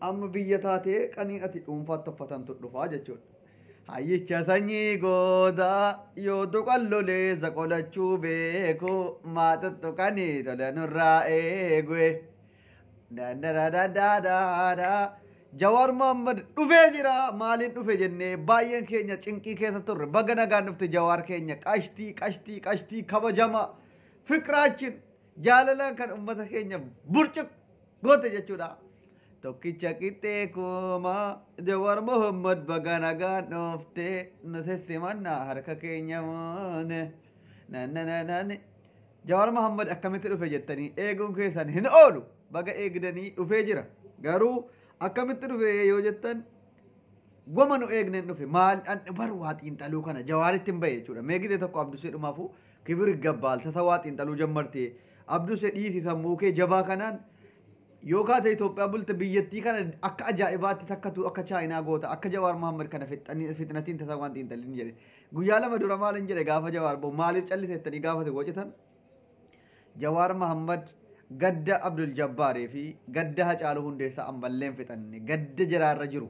Amma biyya taatee qanii ati dhuunfaatti uffatantu dhufaa jechuudha. Hayyicha sanyii goodaa yoo tuqan loleessa qolachuu beeku maa tuttuqanii tola nurraa eegue. Dandaraadadaadaada. Jawaar Mohaammed dhufee jira maaliin dhufe jennee baay'een keenya cinqii keessa turre baga nagaan dhufte Jawaar keenya qashtii qashtii qashtii kabajama fiqraachin Jaalalaan kan ummata keenya burcuq goote jechuudha. Tokkicha qixxee kooma Jawar Muhammad baga nagaan dhoofte nu sissimanna harka keenya moone. Nanananani. Jawar Muhammad akkamitti dhufe jettanii eeguun keessan hin oolu baga eegdanii dhufee jira. Garuu akkamitti dhufe yoo jettan wama nu eegneen dhufe maal bar waa xiinxaluu kana jawaaritti hin bahe jechuudha. Mee gide tokko abdusee dhumaafuu Kibir Iggabbaal tasawaa xiinxaluu jammarte Abduse dhiisi sammuu kee jabaa kanaan yoo kaate Itoophiyaa bulta biyyattii kana akka ajaa'ibaatti takkatu akka chaayinaa goota akka Jawaar Mohammed kana fixxanii- fixnatiin tasawaan xiinxalin jedhe guyyaa lama dura maalin jedhe gaafa Jawaar boo maaliif calliseettanii gaafa isin wocitan Jawaar Mohammed gadda Abdul Jabbaaree fi gadda Hacaaluu Hundeessaa ammalleen fixanne gadda jaraarra jiru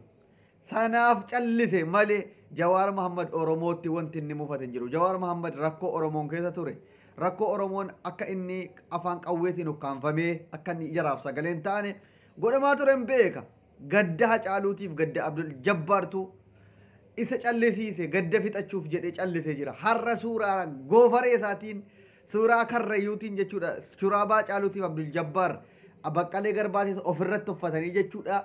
Sanaaf callise malee Jawaar Mahaammad Oromootti wanti inni mufate hin jiru. Jawaar Mahaammad rakkoo Oromoon keessa ture, rakkoo Oromoon akka inni afaan qawweetiin ukkaamfamee akka inni jaraaf sagalee hin taane godhamaa ture hin beeka. Gadda Hacaaluutiif gadda Abdul Jabbaartu isa callisiise gadda fixachuuf jedhee callisee jira. Har'a suuraa goofaree isaatiin suuraa karrayyuutiin jechuudha. Shuraabaa Hacaaluutiif Abdul Jabbaar Baqqalee Garbaatis ofirratti uffatanii jechuudha.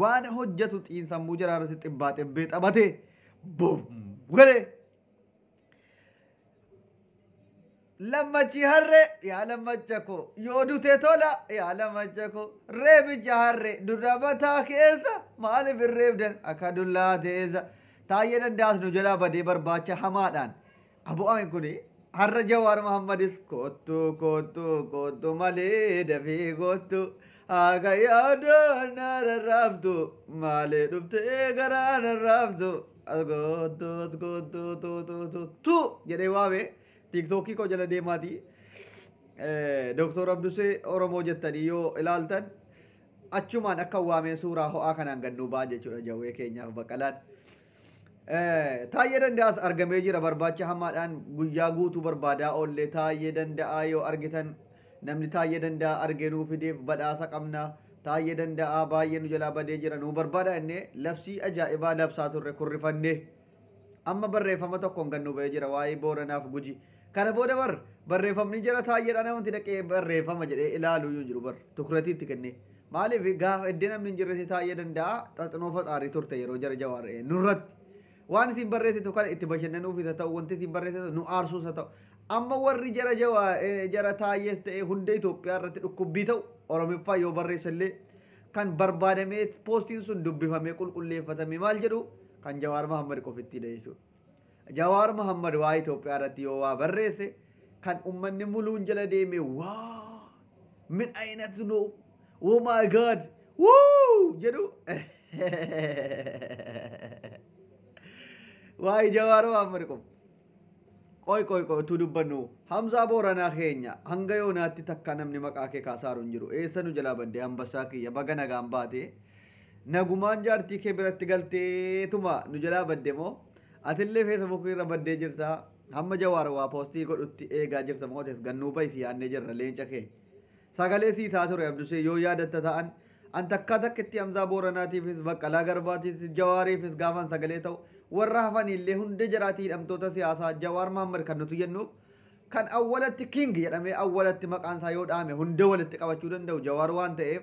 Waan hojjetu xiinsammuu jaraa irratti xibbaa xibbee taphatee bum galee. Lammachi harree yaa lammacha koo yoo dute tola yaa lammacha koo reebicha harree dura mataa keessa maaliif hin reebdan akka dullaa teessa taayyee dandaas nu jalaa badee barbaacha hamaadhaan Abo amin kuni har'a Jawaar Mahammadis koottu koottu koottu malee dafii koottu haga yaadaan na rarraaftu maalee dhuftee garaa na raaftu as koottu as koottu tu tu tu tu jedhee waame tiiktookii koo jala deemaati Dooktor Abdusee Oromoo jettanii yoo ilaaltan achumaan akka waamee suuraa ho'aa kanaan gannuu ba'a jechuudha jawwee keenyaaf baqalaan. Taayyee danda'aas argamee jira barbaacha hamaadhaan guyyaa guutuu barbaadaa oollee taayyee danda'aa yoo argitan namni taayyee danda'aa argee nuu fideef badhaasa qabna taayyee danda'aa baay'ee nu jalaa badee jira nuu barbaada innee labsii ajaa'ibaa labsaa turre kurrifannee amma barreeffama tokkoon gad nu ba'ee jira waa'ee booranaaf guji Kana booda bar barreeffamni jara taayyeedha namatti dhaqee barreeffama jedhee ilaaluu iyyuu hin jiru bar tukuratii itti kennee. Maaliif gaafa iddee namni hin jirretti taayyee danda'a xaxinoo faxaarii turte yeroo jara jawaar eh, nurratti. Waan isin barreessitu kana itti bashannanuufis haa ta'u wanti isin barreessitu nu aarsuus haa ta'u. Amma warri jara jawaa eh, jara taayyees ta'ee hunda Itoophiyaa irratti dhukkubbii ta'u Oromiffaa yoo barreessa illee kan barbaadamee poostiin sun dubbifamee qulqulleeffatame maal jedhu kan Jawaar Mahammad qofittidha jechuudha. Jawaar Mohammed waa Itoophiyaa irratti yoo waa barreesse kan ummanni muluun jala deemee waa min ayinat no oh my god wuu jedhu waa'ee Jawaar Mohammed qofa. Qoy qoy qoy utuu dubbannu Hamzaa Booranaa keenya hanga yoonaatti takka namni maqaa kee kaasaaru hin jiru eessa nu jalaa badde hambassaa kiyya baga nagaan baate Nagumaan jaartii kee biratti galteetuma nu jalaa badde moo? Atillee feesabuukii irra baddee jirta. Hamma Jawaar waa poostii godhutti eegaa jirta moo tes gad nuu bahi si yaannee jirra leenca keenya. Sagalee sii taa ture Abdusee yoo yaadatta ta'an an takkaa takkitti Hamzaa Booranaatiifis Baqqalaa Garbaatiifis Jawaariifis gaafan sagalee ta'u warra hafaniillee hunda jaraati hidhamtoota siyaasaa Jawaar Mahammad kan nuti jennuuf kan awwalatti King jedhamee awwalatti maqaan isaa yoo dhaame hunda walitti qabachuu danda'u Jawaar waan ta'eef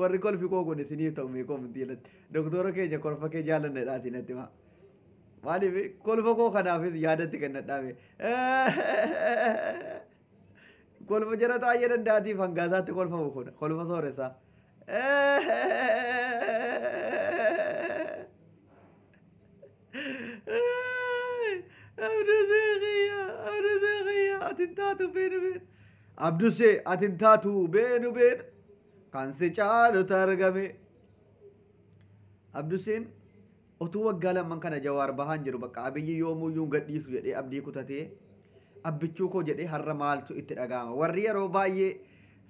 Warri kolfi koo kun isiniif ta'u mee koomentii jalatti. Doktoora keenya kolfa kee jaalannadhaa isin natti himaa. Maaliif kolfa koo kanaafis yaadatti kennadhaa mee. Kolfa jara taa'ee dandaatiif hangaasaatti kolfamu kun kolfa sooressaa. Abdusee ati hin taatu beenu beenu kan si caalutu argame. Abduseen otuu waggaa lamman kana jawaar bahaan jiru bakka abiyyi yoomuyyuu hin gadhiisu jedhee abdii kutatee abbichuu koo jedhee har'a maaltu itti dhaga'ama. Warri yeroo baay'ee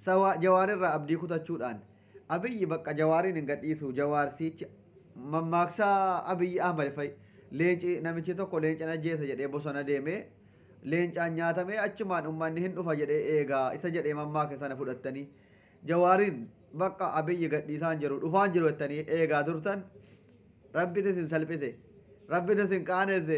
sawaa jawaar irraa abdii kutachuudhaan Abiyyi baqqa jawaariin hin gadhiisuu jawaar siichi mammaaksa abiyyi ahmad fa'i leenci namichi tokko leencan ajjeesa jedhee bosona deeme leencaan nyaatamee achumaan ummanni hin dhufa jedhee eega isa jedhee mammaake sana fudhattanii jawaariin baqqa abiyyi gadhiisaan jiru dhufaan jiru jettanii eegaa turtan rabbiti isin salphise rabbiti isin qaanesse